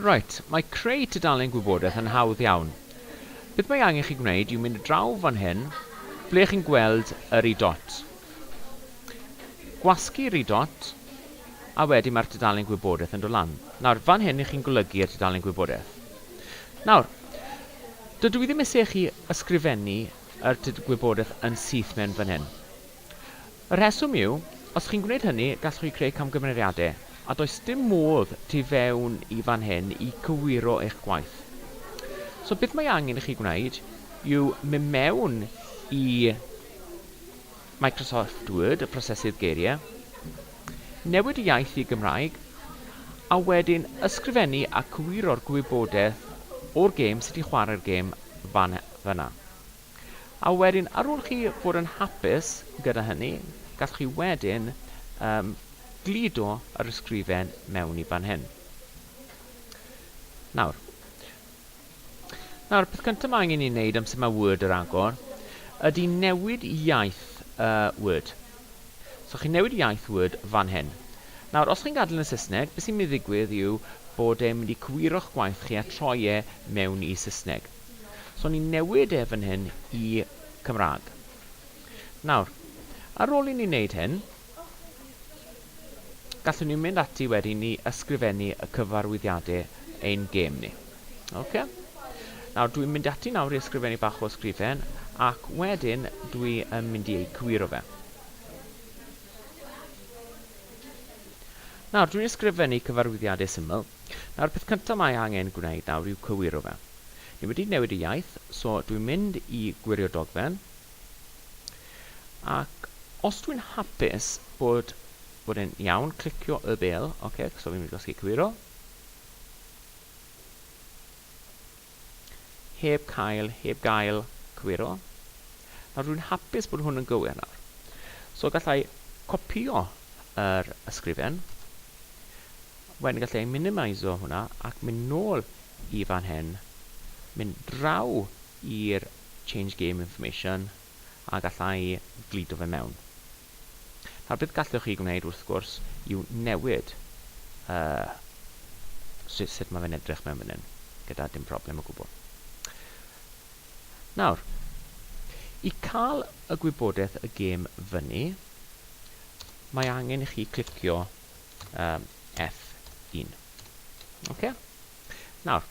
Reit, mae creu tudalen gwybodaeth yn hawdd iawn. Beth mae angen chi gwneud yw mynd draw fan hyn, ble chi'n gweld yr i dot. Gwasgu'r i dot, a wedyn mae'r tudalen gwybodaeth yn dod lan. Nawr, fan hyn i chi'n golygu y tudalen gwybodaeth. Nawr, dydw i ddim eisiau chi ysgrifennu yr gwybodaeth yn syth mewn fan hyn. Y rheswm yw, os chi'n gwneud hynny, gallwch chi greu camgymeriadau, a does dim modd tu fewn i fan hyn i gywiro eich gwaith. So beth mae angen i chi gwneud yw mynd mewn i Microsoft Word, y prosesydd geiriau, newid y iaith i Gymraeg, a wedyn ysgrifennu a cywiro'r gwybodaeth o'r gêm, sut i chwarae'r gêm, fan yna. A wedyn, ar ôl chi fod yn hapus gyda hynny, gallwch chi wedyn um, gludo yr ysgrifen mewn i fan hyn. Nawr, nawr, peth cyntaf mae angen i wneud am sut mae Word yr agor ydy newid iaith uh, Word. So chi'n newid iaith Word fan hyn. Nawr, os chi'n gadael yn Saesneg, beth sy'n mynd i ddigwydd yw bod e'n mynd i cywiro'ch gwaith chi a troi e mewn i Saesneg. So ni'n newid e fan hyn i Cymraeg. Nawr, ar ôl i ni wneud hyn, gallwn ni mynd ati wedyn ni ysgrifennu y cyfarwyddiadau ein gêm ni. Ok? Nawr, dwi'n mynd ati nawr i ysgrifennu bach o ysgrifen, ac wedyn dwi yn mynd i eu cywiro fe. Nawr, dwi'n ysgrifennu cyfarwyddiadau syml. Nawr peth cynta mae angen gwneud nawr yw cywiro fe. Ni wedi newid y iaith, so dwi'n mynd i gwirio dogfen. Ac os dwi'n hapus bod bod e'n iawn, clicio y bel, oce, okay, so fi'n mynd i gosgu cywiro. Heb cael, heb gael, cywiro. Nawr dwi'n hapus bod hwn yn gywir nawr. So gallai copio yr ysgrifen. Wedyn gallai minimiso hwnna ac mynd nôl i fan hyn. Mynd draw i'r change game information a gallai glido fe mewn. Nawr beth gallwch chi gwneud wrth gwrs yw newid uh, sut, sut mae fe'n edrych mewn fan hyn, gyda dim problem o gwbl. Nawr, i cael y gwybodaeth y gêm fyny, mae angen i chi clicio um, F1. Okay? Nawr,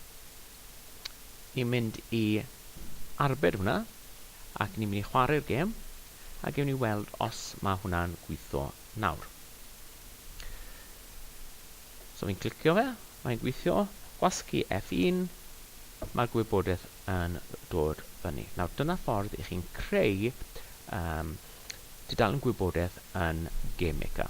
ni'n mynd i arbed hwnna, ac ni'n mynd i chwarae'r gêm, a gewn ni weld os mae hwnna'n gweithio nawr. So fi'n clicio fe, mae'n gweithio, gwasgu F1, mae'r gwybodaeth yn dod fyny. Nawr dyna ffordd i chi'n creu um, tudalen gwybodaeth yn Game Maker.